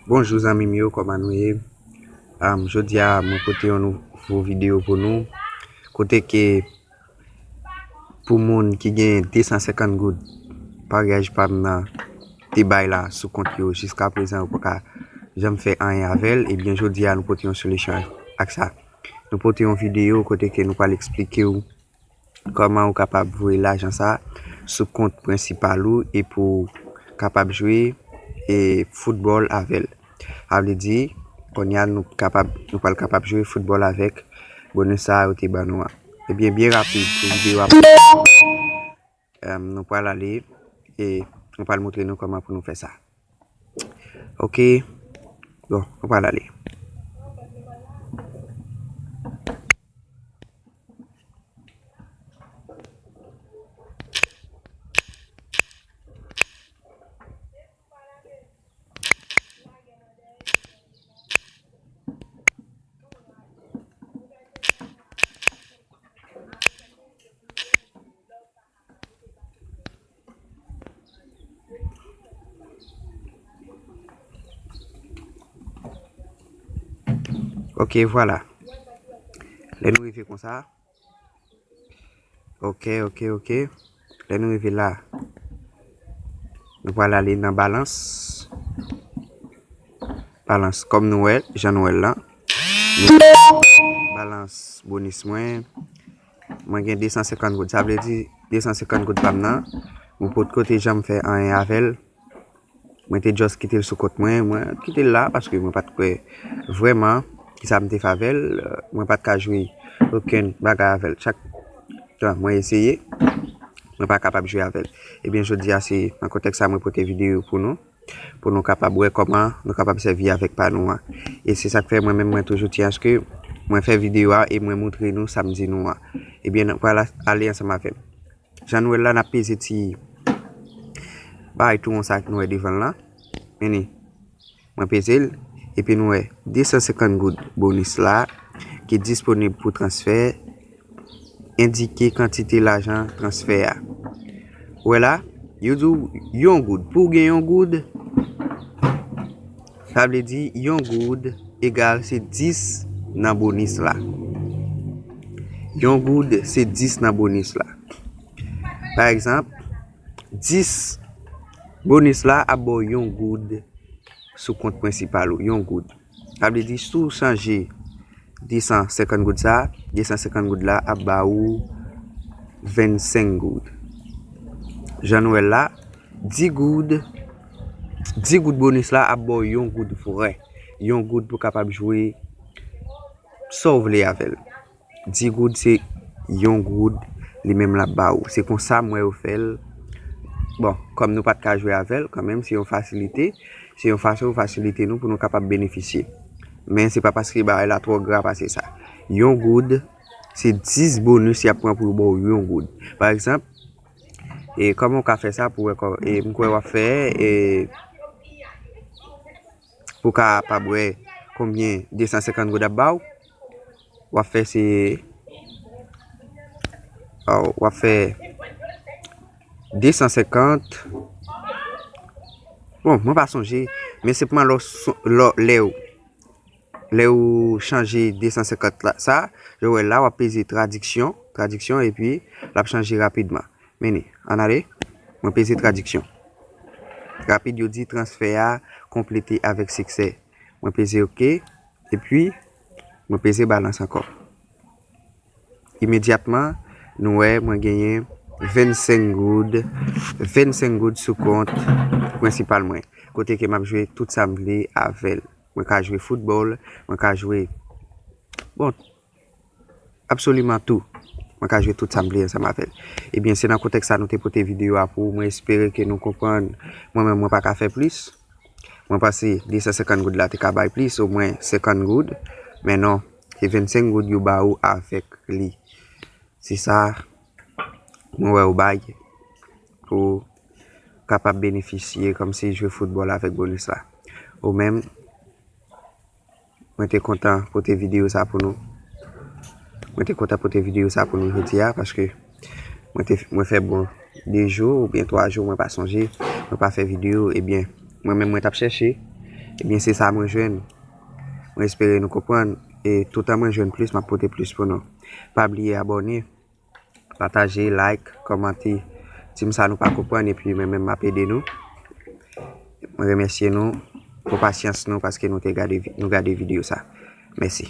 Bonjou zanmim yo kòman nou ye Jodia mwen pote yon nouvo video pou nou Kote ke pou moun ki gen 250 goud Paryaj pam nan te bay la sou kont yo jiska prezan yo paka janm fè anyen avèl Ebyen jodia nou pote yon solisyon ak sa Nou pote yon video kote ke nou pral eksplikew Kòman ou kapab voye lajan sa sou kont prensipal ou e pou kapab jwe e football avèl. A vle di konnya nou kapab nou pral kapab jwe football avèk bonus sa yo te ban nou an. Ebyen byen rapid pou video a. Nou pral ale e nou pral moutre nou kòman pou nou fè sa. Ok. Bon, nou pral ale. Ok vwala. Lè nou rive konsa. Ok ok ok Lè nou rive la Nou pral ale nan balans Balans kòm nou wè jan nou wèl lan Balans bonis mwen Mwen gen 250 goud sa vle di 250 goud pam nan Mwen potko te janm fè anyen avèl. Mwen te just kite l sou kont mwen, mwen kite l la paske mwen pat kwè vrèman kisa m te fè avè l, mwen pat ka jwe okenn bagay avè l chak tan mwen eseye mwen pa kapab jwe avè l. Ebyen jodi a se nan kontèks sa mwen pote videyo pou nou, pou nou kapab wè kòman nou kapab sèvi avèk pa nou an. E se sak fè mwen menm mwen toujou di aske mwen fè videyo a e mwen moutre nou sa m di nou an. Ebyen nou pral ale ansanm avè m. Jan nou wè l la, n ap peze ti bagay tou won sa a nou wè devan l lan. Mennen, mwen peze l. Epi nou wè 250 goud bonis la ki disponib pou transfè. Endike kantite lajan transfè a. Ou wè la, yo di w yon goud. Pou w gen yon goud. Sa vle di yon goud egal se 10 nan bonis la. Yon goud se 10 nan bonis la. Pa egzanp, 10 bonis la ap ba w yon goud sou kont prensipal ou. Yon goud. Sa vle di si w chanje 250 goud sa, 250 goud la ap ba ou 25 goud. Jan nou wè l la. 10 goud, 10 goud bonus la ap baw yon goud vrè, yon goud pou kapab jwe Saw vle avèl, 10 goud se yon goud li menm lap ba ou, se konsa m wè yo fèl, bon kòm nou pat ka jwe avèl kan menm se yon fasilite, se yon fason yo fasilite nou pou nou kapab benefisye, men se pa paske bagay la twò gra pase sa, yon goud se 10 bonus yap pran pou yo baw yon goud, pa egzanp. E koman ou ka fè sa pou wè kò e m kwè wap fè e pou w kapab wè konbyen 250 goud ap ba w wap fè se wap fè 250 bon mwen pa sonje men se pou m al lè w Lè ou chanje 250 la sa, yo wè la wap peze tradiksyon, tradiksyon epi lap chanje rapidman. Meni, an ale, mwen peze tradiksyon. Rapid yo di transfè a konplete avèk siksè. Mwen peze ok, epi mwen peze balans ankò. Imedyatman, nou wè mwen genyen 25 goud, 25 goud sou kont prensipal mwen. Kote ke map jwe tout sa m vle avèl. Mwen ka jwe foutbòl, mwen ka jwe, bon, absoliman tou. Mwen ka jwe tout sa m vle ansanm avè l. Ebyen, se nan kontèks sa nou te pote videyo a pou ou. Mwen espere ke nou konprann. Mwen menm, mwen pa ka fè plis. Mwen panse 250 goud la te ka bay plis, omwen 50 goud. Men non, se 25 goud yo ba ou avèk li. Se sa mwen wè yo bay. Pou w kapab benefisye kòm si jwe foutbòl avèk bonis la ou menm. Mwen te kontan pote videyo sa pou nou. Mwen te kontan pote videyo sa pou nou jodi a paske mwen te mwen fè bon 2 jou ou byen 3 jou mwen pa sonje mwen pa fè videyo e byen mwen menm mwen t ap chèche e byen se sa mwen jwenn. Mwen espere nou konprann e toutan mwen jwenn plis m ap pote plis pou nou. Pa bliye abòne Pataje, like, kòmante. Dim sa nou pa konprann epi mwen menm map ede nou. Mwen remèsye nou pou pasyans nou paske nou gade video sa. Mèsi.